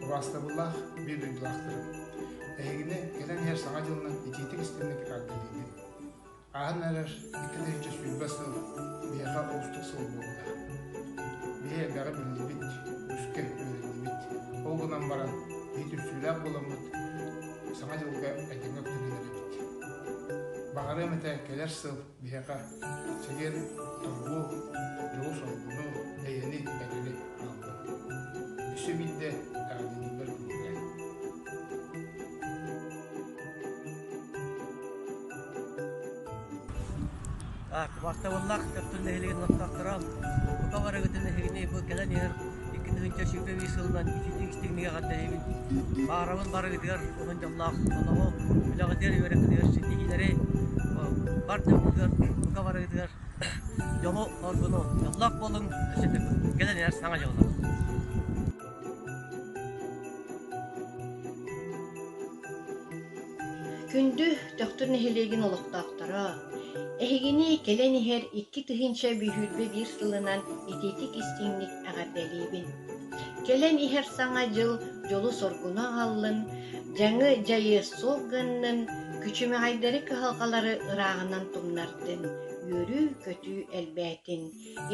Ураастабыллаах биир дойдулаахтарым, эһигини кэлэн иһэр Саҥа дьылынан итиитик истинник эргиллиибин. Ааһан эрэр икки тыһыынча сүүрбэ сыл биһиэхэ оҕустук сыл буолла. Биһи элбэҕи биллибит, үскэ үөрэннибит. Ол гынан баран, иитүрсүүлээх буоламмыт, Саҥа дьылга этэҥҥэ күтэн Баҕарыам этэ кэлэр сыл биһиэхэ чилиэн торгуу, дьоҕу солбуну, эйэни, бэрини аналлар. Өссө биирдэ эҕэрдэлииллэр күнүгэ. Бактабыллах Өттүн нэһилигин олохтохторо. Бука барыгытын нэһилигини бу кэлэн иһэр 2075 сылынан итинник-истигнигэ хардайыбын. Баарабын барыгытыгар уһун дьоллоох олоҕу, үлэҕитигэр үөрэххитигэр ситиһиилэри бар дьоҥҥутугар, бука барыгытыгар дьолу, оргуну, дьоллоох болуҥ, кэлэн иһэр саҥа дьыллар. Күндү Төхтүр нэһилиэгин олохтоохторо! Эһигини кэлэн иһэр икки тыһыынча бүһүүрбэ биир сылынан итиитик-истиҥник эҕэрдэлиибин! Кэлэн иһэр Саҥа дьыл дьолу-соргуну аҕаллын, дьаҥы дьайыа суох гыннын, күчүмэҕэйдэри кыһалҕалары ырааҕынан тумнардын, үөрүү-көтүү элбээтин,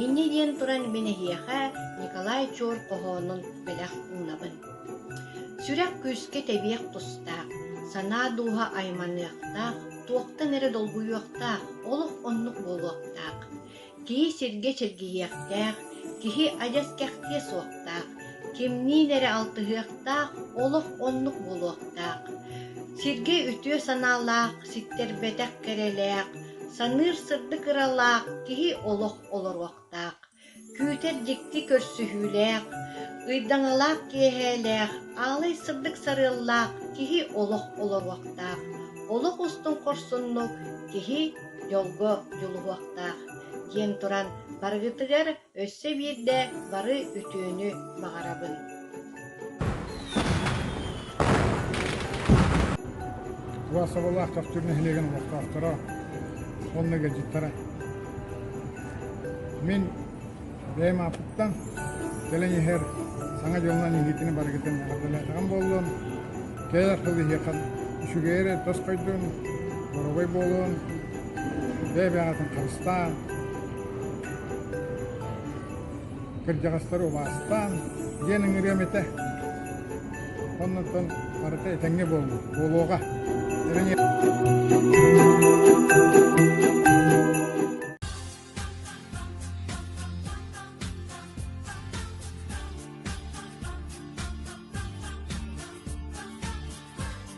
Инньэ диэн туран мин эһиэхэ Николай Чуор хоһоонун бэлэх уунабын. Сүрэх күүскэ тэбиэх тустаах, санаа дууһа айманыахтаах, туохтан эрэ долгуйуохтаах, олох оннук буолуохтаах. Киһи сиргэ чэргийиэхтээх, киһи адьас кэхтиэ суохтаах, кимниин эрэ алтыһыахтаах, олох оннук буолуохтаах. Сиргэ үтүө санаалаах, ситтэрбэтэх кэрэлээх, Саныыр сырдык ыралаах киһи олох олоруохтаах, күүтэр дьикти көрсүһүүлээх, ыйдаҥалаах киэһээлээх, аалай сырдык сарыаллаах киһи олох олоруохтаах, олох устун хорсуннук киһи дьолго дьулуһуохтаах, диэн туран барыгытыгар Өссө биирдэ бары үтүөнү баҕарабын Власовалаах Тохтюр нэһилиэгин олохтоохторо уонна ыалдьыттара мин бэйэм ааппыттан кэлэн иһэр Саҥа дьылынан иһиитини барыгытын эҕэрдэлээтэҕим буоллун кэлэр хыл иһиэхэн үчүгэйэри тос койдун боробой буолун бэйэ-бэйэҕитин харыстаан кырдьаҕастары убаастаан диэн ыҥырыам этэ оннуттан барыта этэҥҥэ буолла буолуоҕа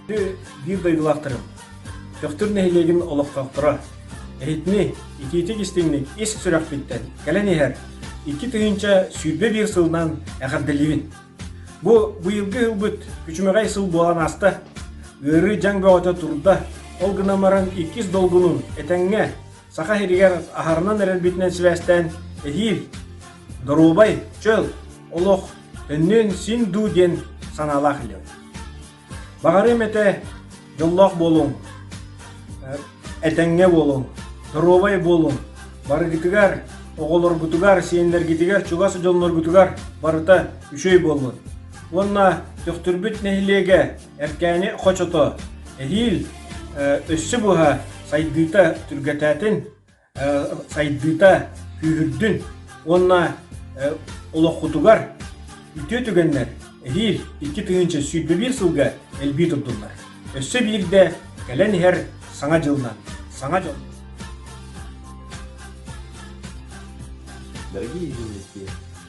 Биир дойдулаахтарым, Төхтүр нэһилиэгин олохтоохторо, иһитинник, итиитик-истиҥник ис сүрэхпиттэн кэлэн иһэр икки тыһыынча сүүрбэ биир сылынан эҕэрдэлиибин. Бу быйылгы ылбыт күчүмэҕэй сыл буолан ааста. Ыарыы дьаҥ бөҕөтө турда. Ол гынан баран иккис долгунун этэҥҥэ Саха сиригэр аһарынан эрэлбитинэн сибээстээн эһиил доруобай, чөл олох өннүөн син дуу диэн санаалаах идэбит. Баҕарыам этэ дьоллоох буолуҥ, этэҥҥэ буолуҥ, доруобай буолуҥ. Барыгытыгар, оҕолоргутугар, сиэннэргитигэр, чугас дьонноргутугар барыта үчүгэй буоллун. Уонна Төхтүрбүт нэһилиэгэ Эркээни хочото, эһиил өссө быһа сайдыыта түргэтээтин, сайдыыта күүһүрдүн уонна олоххутугар үтүө түгэннэр эһиил икки тыһыынча сүүрбэ биир сылга элбии турдуллар. Өссө биирдэ кэлэн иһэр саҥа дьылынан, саҥа дьыл. Дорогие известия,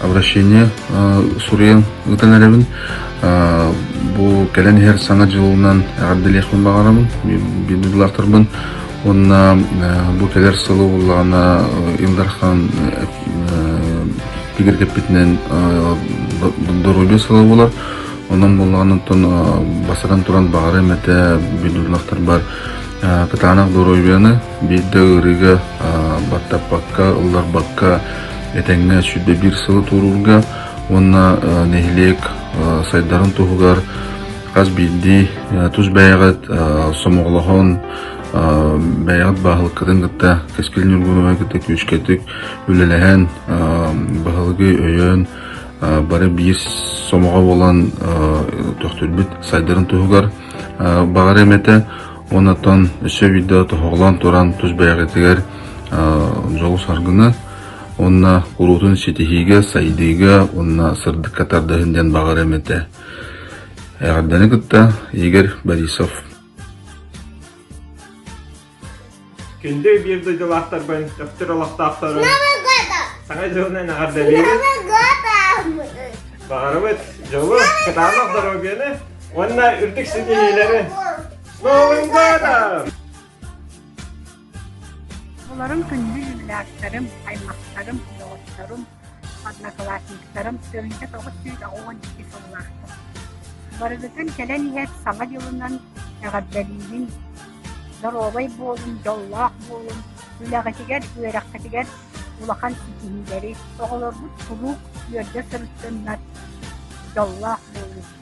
обращение суруйан ыытан эрэбин бу кэлэн иһэр саҥа дьылынан эҕэрдэлиэхпин баҕарабын биллаахтарбын уонна бу кэлэр сылы буоллаҕына Ил Дархан тигиргэппитинэн доруйдуу сыла болар онон боллаҕынан басаран туран баҕарым этэ бүллүллэхтарбар кытаанах доруойбуйаны Биирдэ ыарыыга баттаппакка, ылларбакка этэҥҥэ сүүрдэ биир сылы туоруурга уонна нэһилиэк сайдарын туһугар хас биирдии тус бэйэҕит сомоҕолоһон бэйэҕит баһылыккытын кытта кэскил ньургуһуна кытта күүскэтик үлэлэһэн баһылыгы өйөөн бары биир сомоҕо буолан төхтүрбүт сайдарын туһугар баҕар эмэтэ Онтон өссө биирдэ тоһоҕолоон туран тус бэйэҕитигэр дьоҕус аргыны уонна куруутун ситиһиигэ, сайдыыга уонна сырдыкка тардыһын диэн баҕарам этэ. Эҕэрдэни кытта Игорь Борисов. Күндү биир дойдулаахтарбын, Төхтүр олохтоохторун, саҥа дьылынан эҕэрдэлиибин. Баҕарабыт дьолу, кытаанах доруобуйаны, Уонна үрдүк ситиһиилэри! Новынгода! Олорум күндү юбилярдарым, аймахтарым, доҕотторум, одноклассниктарым тыһыынча тоҕус сүүс уон икки сыллаахтар. Барыгытын кэлэн иһэр саҥа дьылынан эҕэрдэлиибин! Доруобай буолун, дьоллоох буолун, үлэҕитигэр, үөрэххитигэр улахан ситиһиилэри, оҕолоргут куруук үөрдэ сырыттыннар, дьоллоох буолун!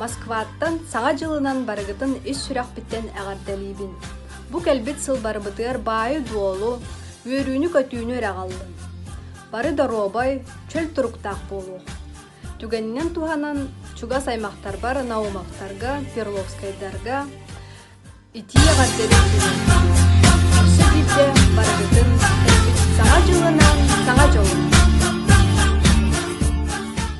Москваттан Саҥа дьылынан барыгытын ис сүрэхпиттэн эҕэрдэлиибин. Бу кэлбит сыл барыбытыгар баайы-дуолу, үөрүүнү-көтүүнү эрэ аҕаллын. Бары доруобай, чөл туруктаах буолуох. Түгэнинэн туһанан чугас аймахтарбар Наумовтарга, Перловскайдарга итии эҕэрдэлик Сó bitte барыгытын саҥа дьылынан саҥа дьолу